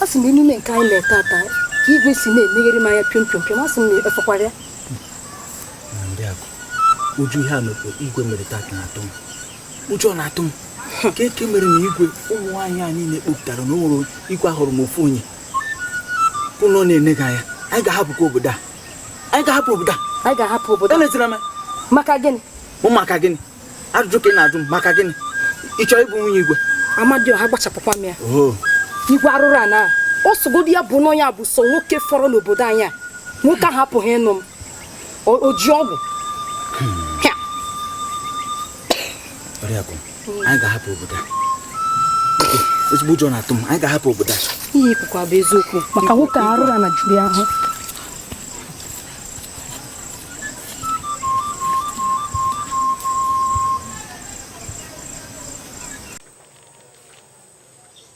a sị m emume nke anyị na-eme taa ka igwe si na-emeghere m anya piom piom piom a sị m na efekwara ya uju ihe a mekwa igwe mere taa ka na-atụ m ụjọ na-atụ m kee nke mere na igwe ụmụ nwaanyị a niile kpọpụtara na ụlọ igwe ahụrụ m ofu onye ọ nọ na-ene gị anya anyị ga-ahapụkwa obodo a anyị ga-ahapụ obodo a anyị ga-ahapụ obodo elezira m maka gịnị mụ maka gịnị ajụjụ ka ị na-ajụ m maka gịnị ị chọrọ ịbụ nwunye igwe amadioha gbachapụkwa m ya oh. igwe arụrụ ana ọ sọgodi ya bụ na ọ ya bụ sọ nwoke fọrọ n'obodo anyị a nwoke ahụ apụghị ịnụ m o ji ọgwụ anyị ga-ahapụ obodo ezigbo ụjọ na-atụ m anyị ga-ahapụ obodo a ihe i kwuru a bụ eziokwu maka nwoke arụrụ ana juru ahụ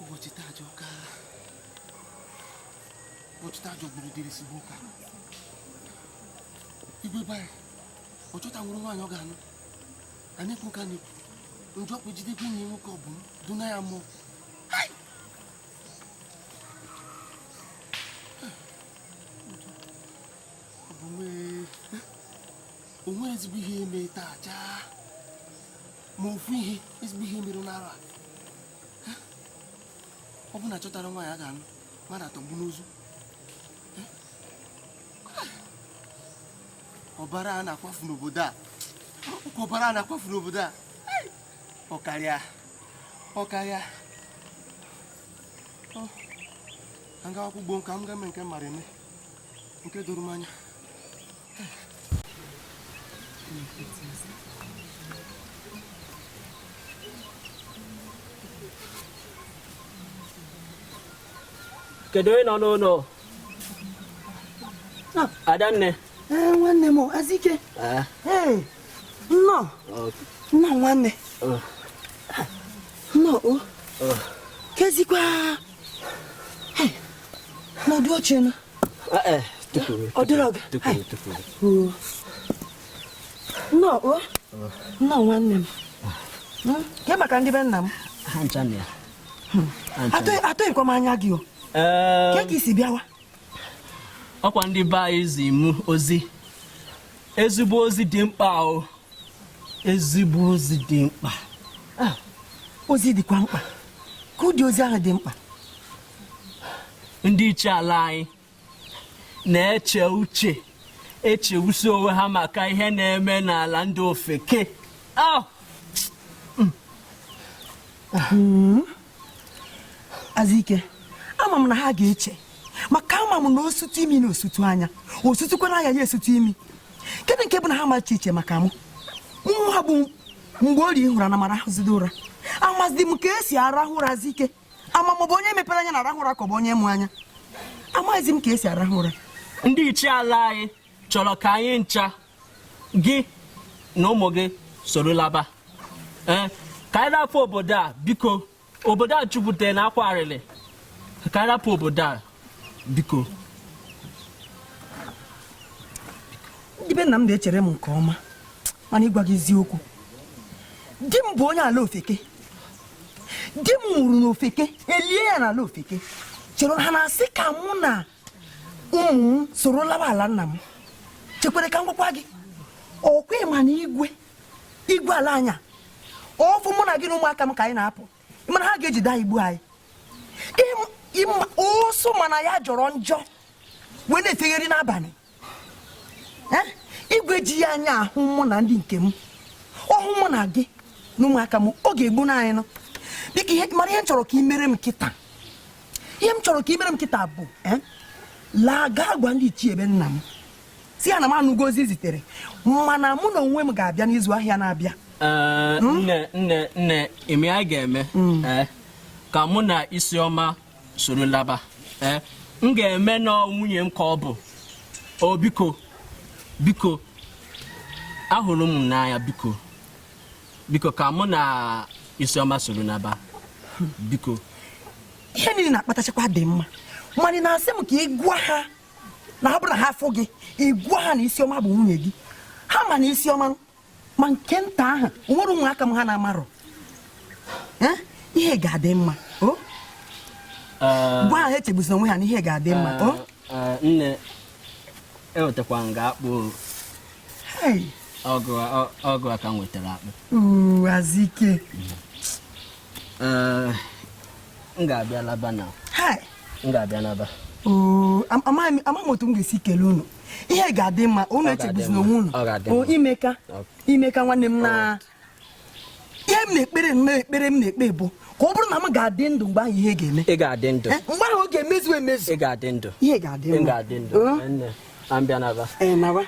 ụbọchị taa ajọka ụbọchị taa jọgburu udele sigbu nkakwụ igwe bara ọ chọta nwere nwaanyị ọ ga-anụ a na-ekwu ka na-ekwu njọ kpụ jidekwa enyi nwoke ọ bụ m duna ya mmụọ o nwerọ ezigbo ihe eme taa chaa ma ofu ihe ezigbo ihe mere n'ala a Eh? ọ bụ na a chọtara nwaanyị a ga-anụ mmadụ atọgbọ n'ozu Eh? Ah! ọbara a na-akwafu n'obodo a ọkwa ọbara a na-akwafu n'obodo a Ai! ọ karịa ọ karịa Ọ, ka m gawakwa ugbo m ka m ga mee nke m mara eme nke doro m anya kedu onye nọ n'ụlọ adanne nwanne m azike nnọọ nna nwanne nnọọ kezikwa nọdụ oche nụ ọ dịrọ gị nnọọ nnọọ nwanne m hmm? kee maka ndị be nna m hmm. atụghịkwa m anya gị o kee ka i si bịawa ọkwa ndị be anyị zi mụ ozi ezigbo ozi dị mkpa o ezigbo ozi dị mkpa ah, ozi dịkwa mkpa ka ụdị ozi ahụ dị mkpa ndị ichie ala anyị na-eche uche echegbusi onwe ha maka ihe na-eme n'ala ndị ofeke ah! hmm. Azike ama m na ha ga-eche maka ama m na o sutu imi na esutu anya o sutukwana anya ya esutu imi kedụ nke bụ na ha macha iche maka mụ nwa bụ Mgborie ị hụrụ na m arahụzidị ụra amazị m ka e si arahụ ụra Azike ama m bụ onye mepere anya na-arahụ ụra ka ọ bụ onye mụ anya amaghịzi m ka e si arahụ ụra ndị ichie ala anyị chọrọ ka anyị ncha gị na ụmụ gị soro laba ee ka anyị rapụ obodo a biko obodo a jupụtara n'akwa arịrị ka anyị rapụ obodo a biko ndị be nna m na-echere m nke ọma mana ịgwa gị eziokwu di m bụ onye ala ofeke di m nwụrụ n'ofeke elie ya n'ala ofeke chere ha na-asị ka mụ na ụmụ m soro laba ala nna m chekwere ka m gwakwa gị ọ kwa ị ma na igwe igwe ala anya ọ fụ mụ na gị na ụmụaka m ka anyị na-apụ ị ma na ha ga-ejide anyị gbuo anyị ụsụ ma na ya jọrọ njọ wee na-efegharị n'abanị igwe jiri anya hụ mụ na ndị nke m ọ hụ mụ na gị na ụmụaka m ọ ga-egbunụ anyị ị mara ihe m chọrọ ka ị mere m kịta ihe m chọrọ ka ị mere m kịta bụ eh, laa gaa gwa ndị ichie be nna m sị ha na m anụgo ozi e zitere mana mụ n'onwe m ga-abịa n'izu ahịa na-abịa eh, hmm? nne nne nne ihe anyị ga-eme hmm. eh, ka mụ na isioma soro laba eh, m ga-eme na ọ nwunye m ka ọ bụ o oh, biko biko ahụrụ m n'anya biko biko ka mụ na isioma soro laba biko ihe niile na-akpatachakwa dị mma mana ị na-asị m ka ị gwa ha na ọ bụrụ na ha afụ gị ị gwa ha na isioma bụ nwunye gị ha ma na isioma ma nke nta ahụ nwere ụmụaka m ha na-amarụ ihe ga-adị mma oh? uh, gwa ha echegbuzina onwe ha na ihe ga-adị mma uh, oh? uh, nne ewetakwa m ga-akpụ ọgụ aka m wetara akpụ azike m ga-abịa laba na m ga-abịa laba amaghị m otu m ga-esi kelee unu ihe ga-adị mma unu echegbuzina onwe unu i meka i meka nwanne m na ihe m na-ekpere ekpere m na-ekpe bụ ka ọ bụrụ na m ga-adị ndụ mgbe ahụ ihe ga-eme ị ga-adị ndụ eh, mgbe ahụ ọ ga-emezu emezu ị ga-adị ndụ ihe ga-adị ndụ ga-adị ndụ ka m bịa naba ee naba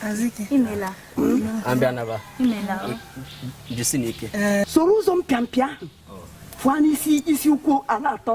ka m bịa naba jisinụ ike eh, soro ụzọ mpịampịa ahụ fụọ n'isi isi ụkwụ ala atọ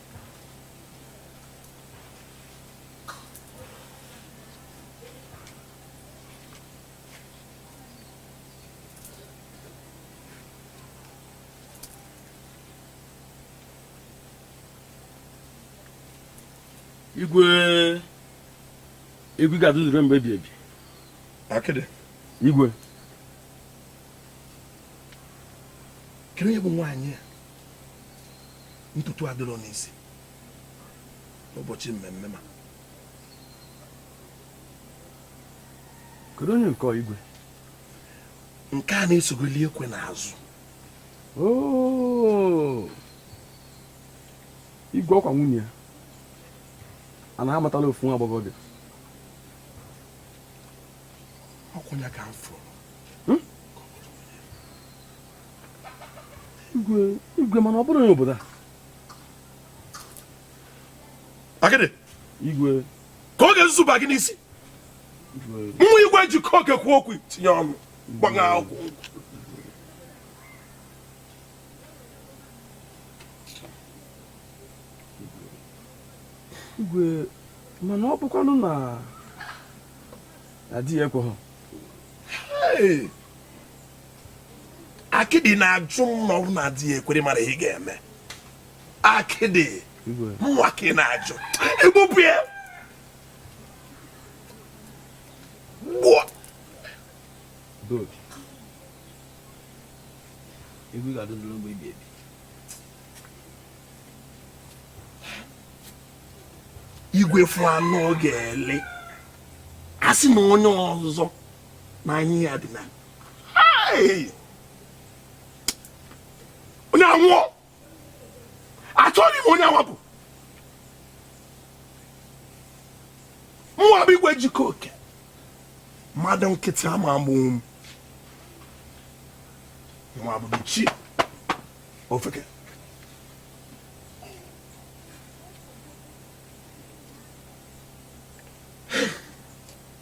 igwe igwe ga-adị ndụ rue mgbe ebighị ebi akịdị igwe kedu onye bụ nwaanyị a ntutu adịrọ n'isi ụbọchị mmemme ma kedu onye nke igwe nke a na-esogoli ekwe n'azụ oh! igwe ọkwa nwunye ya a na-amatala ofu nwa agbọghọbịa ọ kwanụ ya ka m fụrụ hmm? igwe mana ọ bụrụ onye obodo a akịdị igwe ka ọ ga-ezuzu ba gị n'isi mụwa igwe jikọ oke kwuo okwu tinye ọnụ gbagha akwụkwọ igwe mana ọ bụkwanụ na di ya ekweghị akịdị na-ajụ m na ọ bụ na di ya ekwerọ mara ihe ga-eme akịdị mụwa ka ị na-ajụ egbupụ ya gbuo igwe ga-adị ndụ mgbe ebighị ebi igwe fụ anụ ọ ga-eli a sị na onye ọzọ ma anyị ya dị na onye anwụọ achọghị m onye awapụ mụwa bụ igwe jikọ oke mmadụ nkịtị ama egbunwu m ya bụzi ofeke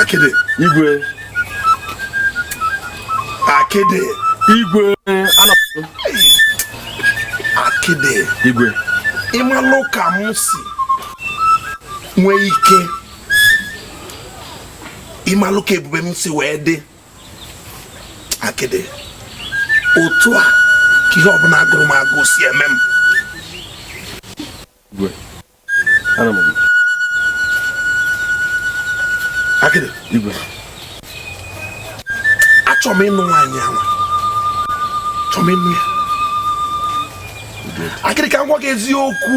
akịdị igwe akịdị igwe akịdị igwe ị malụ ka m si nwee ike ị malụ ka ebube m si wee dị akịdị otu a ka ihe ọbụla gụrụ m agụụ si eme m achọrọ m ịnụ nwaanyị ahụ achọrọ m ịnụ ya akịdị ka m gwa gị eziokwu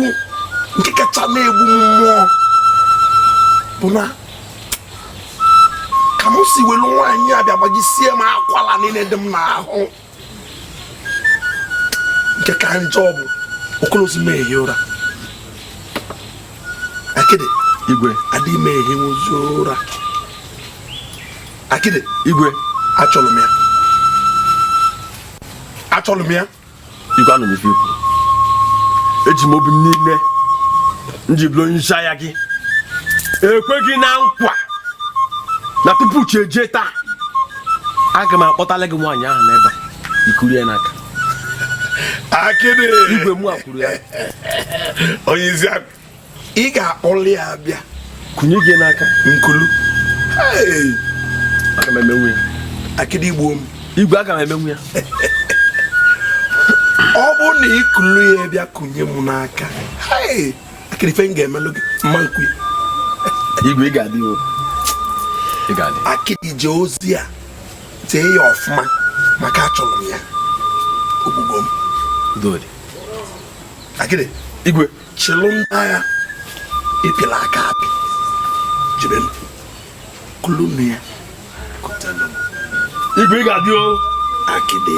nke kacha na-egbu m mmụọ bụ na ka m si welu nwaanyị a bịa gbajisie m akwala niile dị m n'ahụ nke ka njọ bụ o kwelọzi m ehi ụra akịdị igwe adịghị m ehinwuzi ụra akịdị igwe achọrọ m ya achọrọ m ya igwe anụ m ife i kwu eji m obi m niile m ji bụrụ onye isi agha gị ekwe gị na nkwa na tupu chi ejie taa aga m akpọtalụ gị nwaanyị ahụ n'ebe i kuru ya n'aka akịdị igwe mụ ekuru ya onye isi akụ ị ga-akpọlụ ya bịa kunye m n'aka m kulu aga m emenwu ya akịdị i gbuo m igwe aga m emenwu ya ọ bụrụ na i kulu ya bịa kunye m n'aka akịdị ife m ga-emelụ gị mma nkwi igwe ị ga-adị o ị ga-adị akịdị jee ozi a jee ya ọfụma maka achọrọ m ya ogbugbo m udodi akịdị igwe chịlụ ndị agha ị pịlụ aka apị jebe m kulu nwaanyị a kutalụ m igwe ị ga-adị o akịdị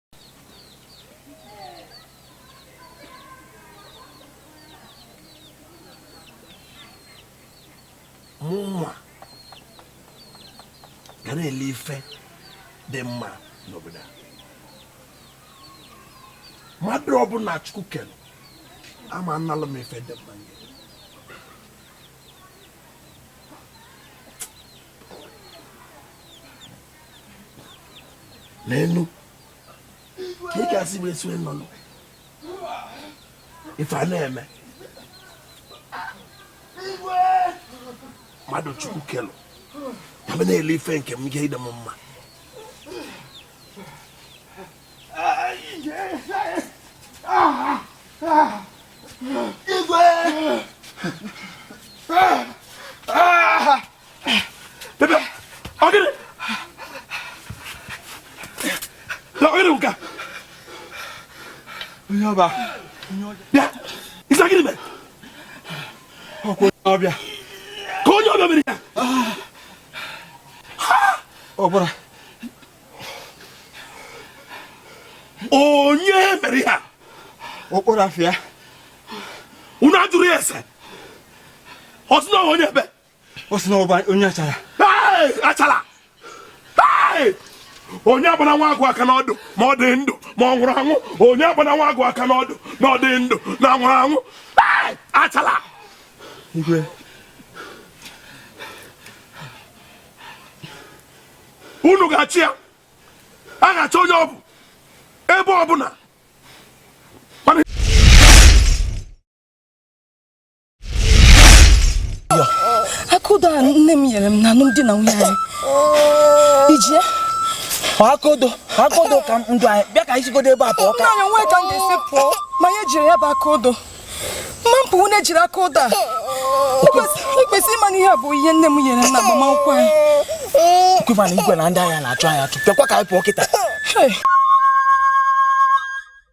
mụnwa ga na-eli ife dị mma n'obodo a mmadụ ọbụla chukwu kere ama analụ m ife dị mma n'enu ka ị ga-asị wee sue nnọnụ ife a na-eme mmadụ chukwu kelụ ka m na-ele ife nke m ga ịdị m mma igwe Bebe, ọ gịnị? Na ọ gịnị nka? Onye ọba. Bịa, ị sị gịnị mere? Ọ kwa onye ọbịa. Ka onye ọbịa mere ya. Ọ gwara. Onye mere ya? Okporo afịa. Unu ajụrụ ya ese. Ọ sị na ọ wụ onye ebe. ọ sị na ọ bụ onye achara achara onye akpana nwa agụ aka n'ọdụ ma ọ dị ndụ ma ọ nwụrụ anwụ onye akpana nwa agụ aka n'ọdụ na ọ dị ndụ na ọ nwụrụ anwụ achara igwe unu ga-achọ ya a ga-achọ onye ọ bụ ebe ọbụla akodo a nne m nyere m na alụm di na nwunye anyị iji ya akodo akodo ka ndụ anyị bịa ka anyị sigodu ebe a pụọ ka anyị nwee ka m ga-esi pụọ ma ya jiri ya bụ akodo mma mpụ nwunye jiri akodo a ikwesị ịma na ihe a bụ ihe nne m nyere m na agbamakwụkwọ anyị kwema na igwe na ndị agha na-achụ anyị achụ bịakwa ka anyị pụọ kịta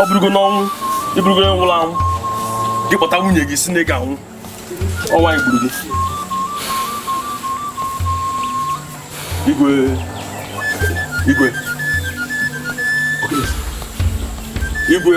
ọ bụrụgo n'ọnwụ ị bụrụgo onye nwụrụ anwụ gị kpọta nwunye gị sị na ị ga-anwụ ọ wụ anyị gburu gị igwe igwe igwe